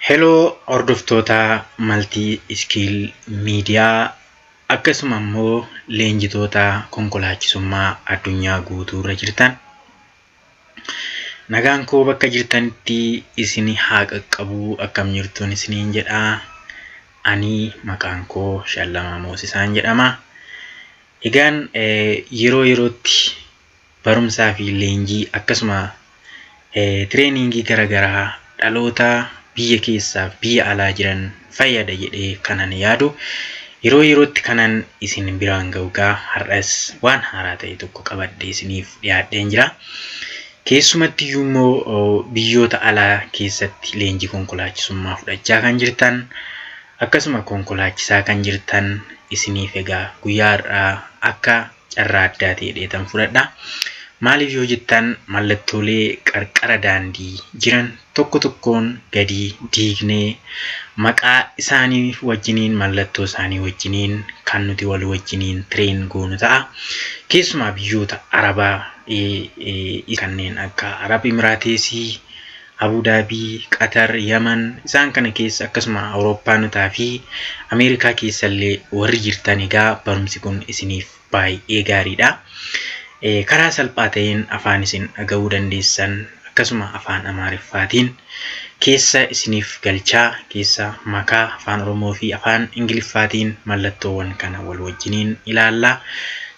Heloo hordoftoota maltii iskiil miidiyaa akkasuma immoo leenjitoota konkolaachisummaa addunyaa guutuu irra jirtan nagaan koo bakka jirtanitti isin haa qaqqabuu akkam jirtuun isiniin jedha ani maqaan koo shallamaa moosisaan jedhama egaan yeroo yerootti barumsaa fi leenjii akkasuma tireeningii gara garaa dhaloota biyya keessaaf biyya alaa jiran fayyada jedhee kanan yaadu yeroo yerootti kanan isin biraan ga'u gaa har'as waan haaraa ta'e tokko qabadhe isiniif dhiyaadheen jira. Keessumatti iyyuu immoo biyyoota alaa keessatti leenjii konkolaachisummaa fudhachaa kan jirtan akkasuma konkolaachisaa kan jirtan isiniif egaa guyyaa har'aa akka carraa addaati jedheetan fudhadha. Maaliif yoo jettan mallattoolee qarqara daandii jiran tokko tokkoon gadi diignee maqaa isaanii wajjiniin mallattoo isaanii wajjiniin kan nuti wal wajjiniin tireen goonu ta'a. Keessumaa biyyoota Arabaa kanneen akka Arab Imiraateesii, Abuu Daabii, Qatar, Yaman isaan kana keessa akkasuma Awurooppaanotaa fi Ameerikaa keessallee warri jirtan egaa barumsi kun isiniif baay'ee gaariidha. Karaa salphaa ta'een afaan isin dhaga'uu dandeessan akkasuma afaan Amaariffaatiin keessa isiniif galchaa keessa makaa afaan Oromoo fi afaan Ingiliffaatiin mallattoowwan kana wal wajjiniin ilaalla.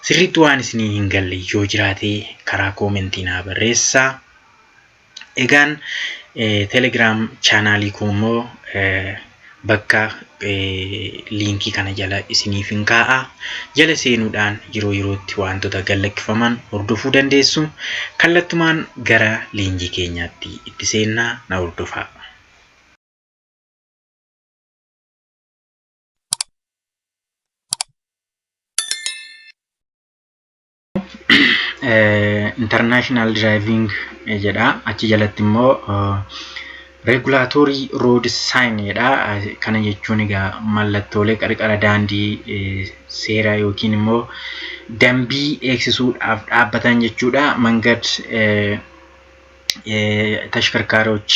Sirriitti waan isinii hin galle yoo jiraate karaa koomentii naa barreessaa. Egaan telegram chaanaalii koo immoo bakka liinkii kana jala isiniif hin kaa'a. Jala seenuudhaan yeroo yerootti wantoota gallakkifaman hordofuu dandeessu. Kallattumaan gara leenjii keenyaatti itti seennaa na hordofaa. international driving jedha achi jalatti immoo regulatory road sign jedha kana jechuun egaa mallattoolee qarqara daandii seera yookiin immoo dambii eegsisuudhaaf dhaabbatan jechuudha mangad tashkarkaaroch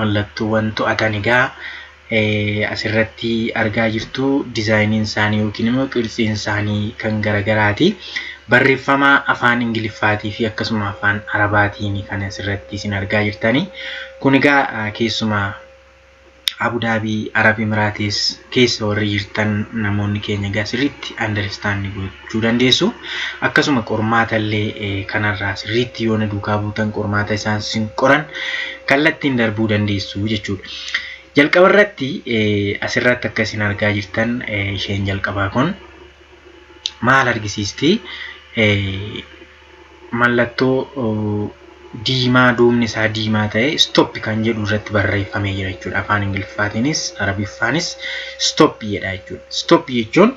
Mallattoowwan to'atan egaa asirratti argaa jirtu dizaayiniin isaanii yookiin immoo qirtsiin isaanii kan garagaraati. Barreeffama afaan Ingiliffaatii fi akkasuma afaan Arabaatiin kan asirratti isin argaa jirtani. Kun egaa keessumaa Abudaabii Arab Imiraatis keessa warri jirtan namoonni keenya egaa sirriitti understand gootu. argachuu dandeessu. Akkasuma qormaata illee kanarraa sirriitti yoo na duukaa buutan qormaata isaan sin qoran kallattiin darbuu dandeessu jechuudha. Jalqaba irratti asirratti akka isin argaa jirtan isheen jalqabaa kun maal argisiisti? Mallattoo diimaa duubni isaa diimaa ta'e stop kan jedhu irratti barreeffamee jira jechuudha. Afaan Ingiliffaatiinis Arabiffaanis stop jedha jechuudha. Stop jechuun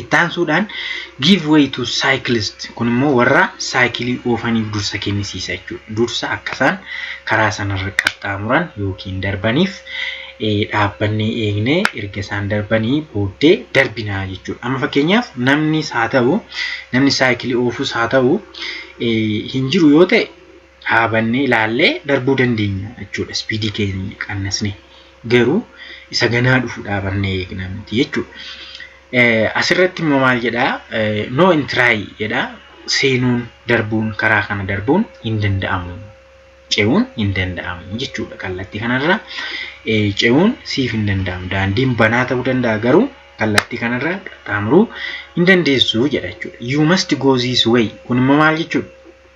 Itti aansuudhaan give way to cyclist kun immoo warra saayikilii oofaniif dursa kennisiisa jechuudha. Dursa akka isaan karaa sanarra qaxxaamuran yookiin darbaniif dhaabbannee eegnee erga isaan darbanii booddee darbinaa jechuudha. Amma fakkeenyaaf namnis haa ta'u namni saayikilii oofus haa ta'u hin jiru yoo ta'e dhaabannee ilaallee darbuu dandeenya jechuudha. Ispiidii keenya qannasnee garuu isa ganaa dhufu dhaabannee eegna miti jechuudha. Asirratti immoo maal jedhaa no intiraay jedhaa seenuun darbuun karaa kana darbuun hin danda'amu ce'uun hin danda'amu jechuudha kallattii kanarra ce'uun siif hin danda'amu daandiin banaa ta'uu danda'a garuu kallattii kanarra qaxxaamuruu hin dandeessu jedha jechuudha. You must go this way kun immoo maal jechuudha?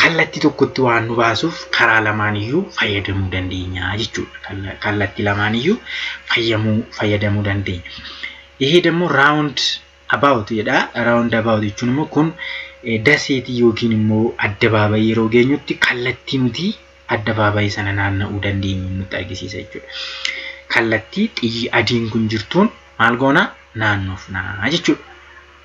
Kallattii tokkotti waan nu baasuuf karaa lamaaniyyuu fayyadamuu dandeenya jechuudha. Kalla- Kallattii lamaaniyyuu fayyamuu fayyadamuu dandeenya. Ihee dammoo round about jedha. Round about jechuun immoo kun eh, daseetii yookiin immoo addabaabayii yeroo geenyutti kallattii nuti addabaabayii sana naanna'uu dandeenyu nutti argisiisa jechuudha. Kallattii xiyyi adiin kun jirtuun maal goona naannofna jechuudha.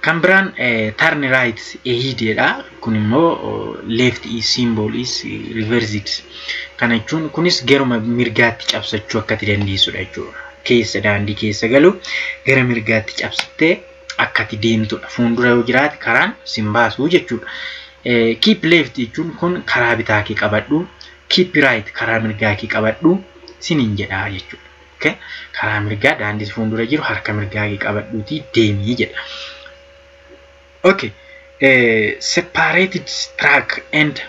Kan biraan turn right ahead jedha. Kun immoo left is symbol is reversed. Kana jechuun kunis garuma mirgaatti cabsachuu akka ati dandeessudha jechuudha. Keessa daandii keessa galu gara mirgaatti cabsittee akka ati deemtudha. Fuuldura yoo jiraate karaan sin baasu jechuudha. Keep left jechuun kun karaa bitaa kee qabadhu. Keep right karaa mirgaa kee qabadhu sinin jedha jechuudha. Okay. Karaa mirgaa daandii si fuuldura jiru harka mirgaa kee qabadhuutii deemii jedha. Okay. Eh, separated track and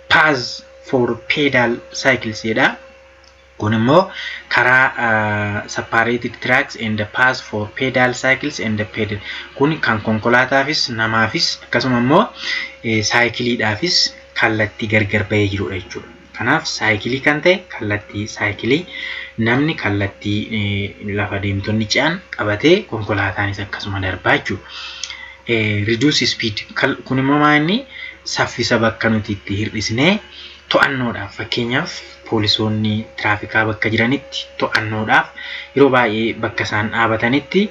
paths for pedal cycles jedha. Kun immoo karaa uh, separated tracks and paths for pedal cycles and pedal. Kun kan konkolaataafis namaafis akkasuma immoo eh, saayikiliidhaafis kallattii gargar bahee jirudha jechuudha. Kanaaf saayikilii kan ta'e kallattii saayikilii namni kallattii lafa deemtonni ce'an qabatee konkolaataanis akkasuma darbaa jechuudha. Reduce speed kun immoo maa inni saffisa bakka nuti itti hir'isnee to'annoodhaaf fakkeenyaaf poolisoonni tiraafikaa bakka jiranitti to'annoodhaaf yeroo baay'ee bakka isaan dhaabatanitti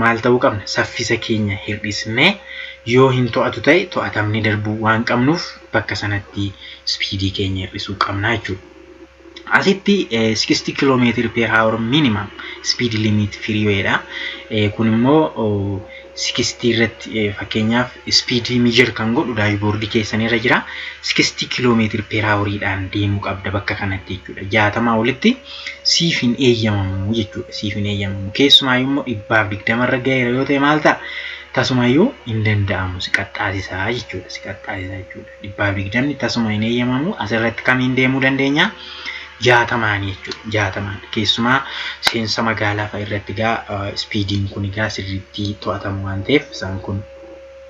maal ta'uu qabna saffisa keenya hir'isnee yoo hin to'atu ta'e to'atamni darbuu waan qabnuuf bakka sanatti speedii keenya hir'isuu qabna jechuudha. Asitti 60 km per hour minimum speed limit freeway dha. Kun immoo 60 irratti fakkeenyaaf speedii measure kan godhu daashboordii keessan irra jira. 60 km per hour dhaan deemuu qabda bakka kanatti jechuudha. 60 olitti siif hin eeyyamamu jechuudha. Siif hin eeyyamamu. Keessumaayyuu immoo dhibbaaf digdama irra gaheera yoo ta'e maal ta'a? Tasumayyuu hin danda'amu si qaxxaasisaa jechuudha. Si qaxxaasisaa jechuudha. Dhibbaaf digdamni tasuma hin eeyyamamu asirratti kamiin deemuu dandeenya? Jaatamaan jechuudha. Jaatamaan keessumaa seensa magaalaa fa'a irratti egaa ispiidiin kun egaa sirriitti to'atamu waan ta'eef isaan kun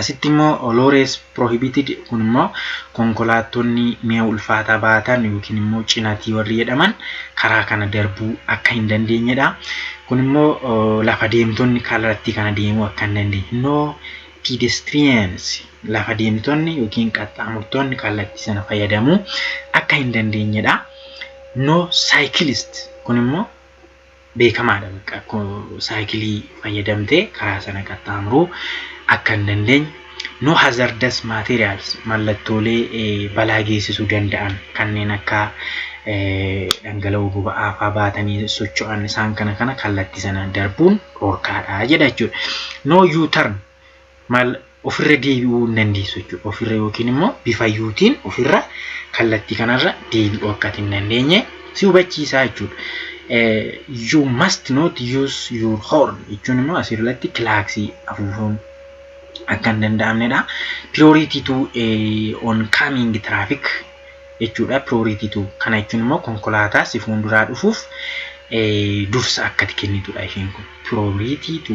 Asitti immoo olores prohibited kun immoo konkolaattonni mi'a ulfaataa baatan yookiin immoo cinatii warri jedhaman karaa kana darbuu akka hin dandeenyedha. Kun immoo lafa deemtonni kallattii kana deemuu akka hin dandeenye. No pedestrians lafa deemtonni yookiin qaxxaamurtoonni kallattii sana fayyadamuu akka hin dandeenyedha. No cyclist kun immoo beekamaadha bakka saayikilii fayyadamtee karaa sana qaxxaamuruu akka hin dandeenye no hazardous materials mallattoolee balaa geessisuu danda'an kanneen akka dhangala'oo boba'aa faa baatanii socho'an isaan kana kana kallattii sana darbuun dhorkaadha jedha jechuudha. No U-turn maal ofirra deebi'uu hin dandeessu jechuudha. Ofirra yookiin immoo bifayyuutiin ofirra kallattii kanarra deebi'uu akka hin dandeenye si hubachiisaa jechuudha. You must not use your horn jechuun immoo asirratti kilaaksii afuufuun akka hin danda'amnedha. Priority to on coming traffic jechuudha. Priority to kana jechuun immoo konkolaataa si fuulduraa dhufuuf dursa akkati kennitudha isheen kun. Priority to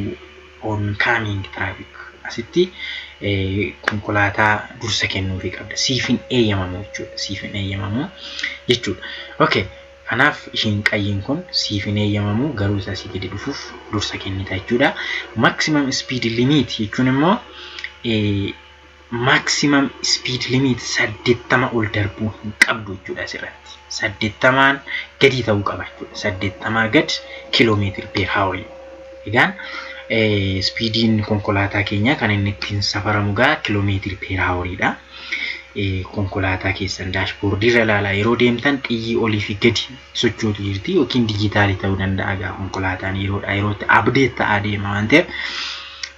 oncoming traffic asitti konkolaataa dursa kennuufii qabda siif hin eeyyamamu jechuudha siif hin eeyyamamu jechuudha okay kanaaf ishiin qayyiin kun siif hin eeyyamamu garuu isa asii gadi dhufuuf dursa kennita jechuudha maximum speed limit jechuun immoo maximum speed limit 80 ol darbuu hin qabdu jechuudha asirratti 80n gadii ta'uu qaba jechuudha 80 gad kiiloomeetiri per hour egaan speediin konkolaataa keenyaa kan inni ittiin safaramu gaa kiiloomeetiri per hour'dha konkolaataa keessan daashboordii irra ilaalaa yeroo deemtan xiyyi olii fi gadi sochootu jirti yookiin dijitaalii ta'uu danda'a egaa konkolaataan yeroodhaa yerootti abdeet ta'aa deema waan ta'eef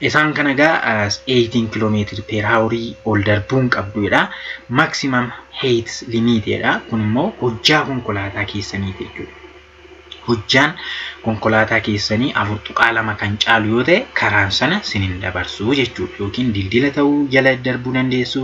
isaan kana egaa 18 kilomeetiri peer haaworii ol darbuun qabduudha maksimam heeyit limiiteedha kun immoo hojjaa konkolaataa keessaniiti jechuudha. Hojjaan konkolaataa keessanii afur tuqaa lama kan caalu yoo ta'e karaan sana sin hin dabarsuu jechuudha yookiin dildila ta'uu jala darbuu dandeessu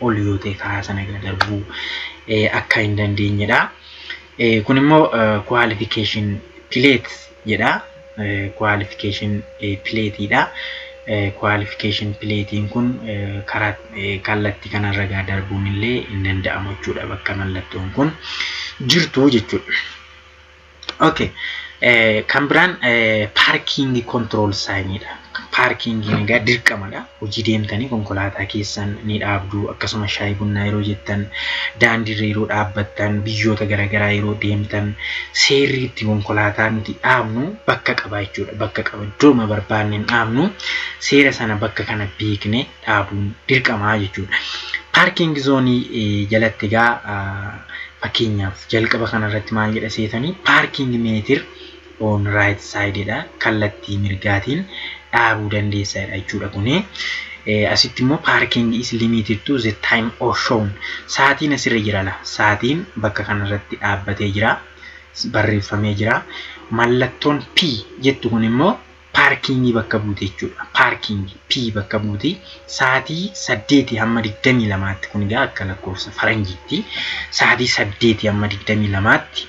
ol yoo ta'e karaa sana irra darbuu akka hin dandeenyedha. Kun immoo qualification plate jedha. Qualification plateidha. Qualification platein kun karaa kallattii kanarra gaa darbuun illee hin danda'amu jechuudha bakka mallattoon kun jirtu jechuudha. Okay. Eh, kan biraan eh, paarkiingi kontirool saayiniidha. Paarkiingiin egaa dirqamadha. Hojii deemtanii konkolaataa keessan ni dhaabdu. Akkasuma shaayii bunnaa yeroo jettan, daandiirra yeroo dhaabbattan, biyyoota garaagaraa yeroo deemtan, seerri itti konkolaataa nuti dhaabnu bakka qaba jechuudha. Bakka qaba. Iddooma barbaanne hin dhaabnu. Seera sana bakka kana beekne dhaabuun dirqamaa jechuudha. Paarkiing zoonii jalatti egaa fakkeenyaaf jalqaba kanarratti maal jedha seetanii paarkiing meetir on right side dha kallattii mirgaatiin dhaabuu dandeessa jechuudha kuni. Asitti immoo paarkiing is limited to the time or shown saatiin asirra jira la saatiin bakka kanarratti dhaabbatee jira barreeffamee jira mallattoon P jettu kun immoo paarkiingii bakka buuti jechuudha. Paarkiingii P bakka buuti sa'aatii saddeetii hamma digdamii lamaatti kun egaa akka lakkoofsa faranjiitti sa'aatii saddeetii hamma digdamii lamaatti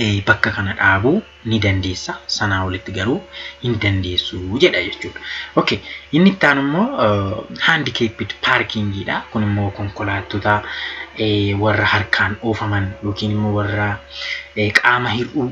eh, bakka kana dhaabuu ni dandeessa sanaa olitti garuu hin dandeessu jedha jechuudha. Okay, inni itti aanu immoo handikeepid paarkiingiidha. Kun immoo konkolaattota eh, warra harkaan oofaman yookiin immoo warra eh, qaama hir'uu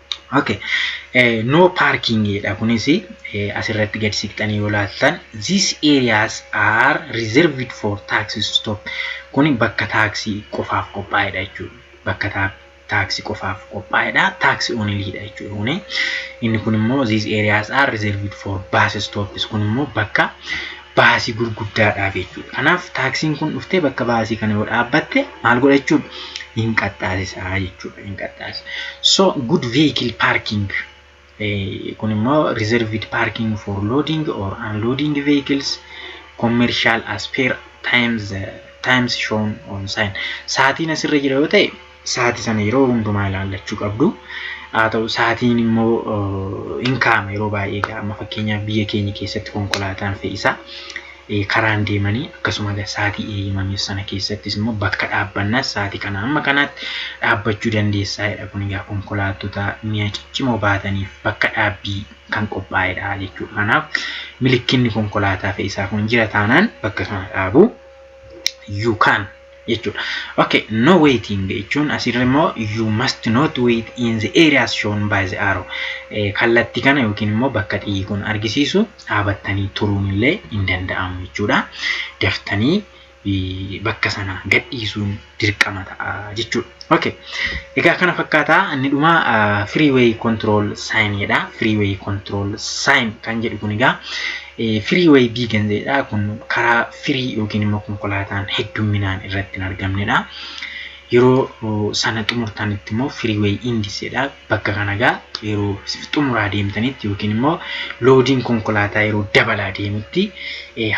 Okay. Eh, no parking dha kunis eh, asirratti gad siqxanii yoo laaltan these areas are reserved for taxi stop kun bakka taaksii qofaaf qophaa'edha jechuudha bakka taa- taaksii qofaaf qophaa'edha taaksii oniliidha jechuudha kuni inni kun immoo these areas are reserved for bus stops kun immoo bakka baasii gurguddaadhaaf jechuudha. Kanaaf taaksiin kun dhuftee bakka baasii kana yoo dhaabbatte maal godha jechuudha? Hin qaxxaasisaa jechuudha. Hin qaxxaasisa. So good vehicle parking kun immoo reserved parking for loading or unloading vehicles commercial as per times times shown on sign sa'aatiin asirra jira yoo ta'e Sa'aatii sana yeroo hundumaa ilaallachuu qabdu. Haa ta'u sa'aatiin immoo hin kaa'ama yeroo baay'ee egaa amma fakkeenyaaf biyya keenya keessatti konkolaataan fe'isaa karaan deemanii akkasuma egaa sa'aatii eeyyamameef sana keessattis immoo bakka dhaabbannaas sa'aatii kana amma kanaatti dhaabbachuu dandeessaa jedha kun egaa konkolaattota mi'a ciccimoo baataniif bakka dhaabbii kan qophaa'edha jechuudha. Kanaaf milikkinni konkolaataa fe'isaa kun jira taanaan bakka sana dhaabu you can jechuudha. Okay, no waiting jechuun asirra immoo you must not wait in the areas shown by the arrow. Eh, Kallatti kana yookiin immoo bakka xiyyi kun argisiisu dhaabattanii turuun illee hin danda'amu jechuudha. Daftanii eh, bakka sana gadhiisuun dirqama ta'a jechuudha. Okay. Egaa kana fakkaata inni dhuma freeway control sign jedha. Freeway control sign kan jedhu kun egaa Firii way bii ganzeedha kun karaa firii yookiin immoo konkolaataan heddumminaan irratti hin argamnedha. Yeroo sana xumurtanitti immoo firii way indiseedha. Bakka kana egaa yeroo xumuraa deemtanitti yookiin immoo loodiin konkolaataa yeroo dabalaa deemutti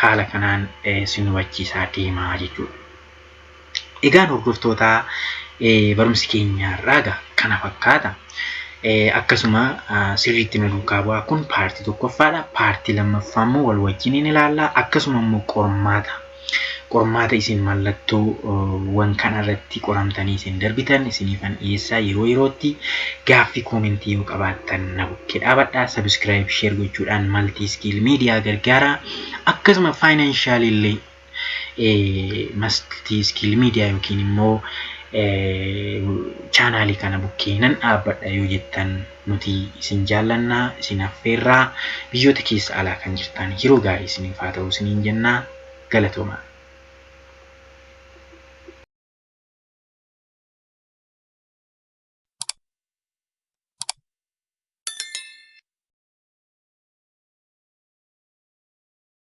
haala kanaan sin hubachiisaa deemaa jechuudha. Egaan hordoftootaa barumsi keenya har'aa egaa kana fakkaata. Akkasuma sirriitti nu duukaa bu'aa kun paartii tokkoffaadha. Paartii lammaffaa immoo wal wajjin ni ilaalla. Akkasuma immoo qormaata qormaata isin mallattoo wan kana irratti qoramtanii isin darbitan isiniifan dhiyeessaa yeroo yerootti gaaffii koomentii yoo qabaattan na bukkee dhaabadhaa sabiskiraayib sheer gochuudhaan maltii iskiil miidiyaa gargaaraa akkasuma faayinaanshaaliillee mastii iskiil miidiyaa yookiin immoo chaanaalii kana bukkee nan dhaabbadha yoo jettan nuti isin jaallannaa isin affeerraa biyyoota keessa alaa kan jirtan yeroo gaarii isiniif haa ta'u isiniin jennaa galatoomaa.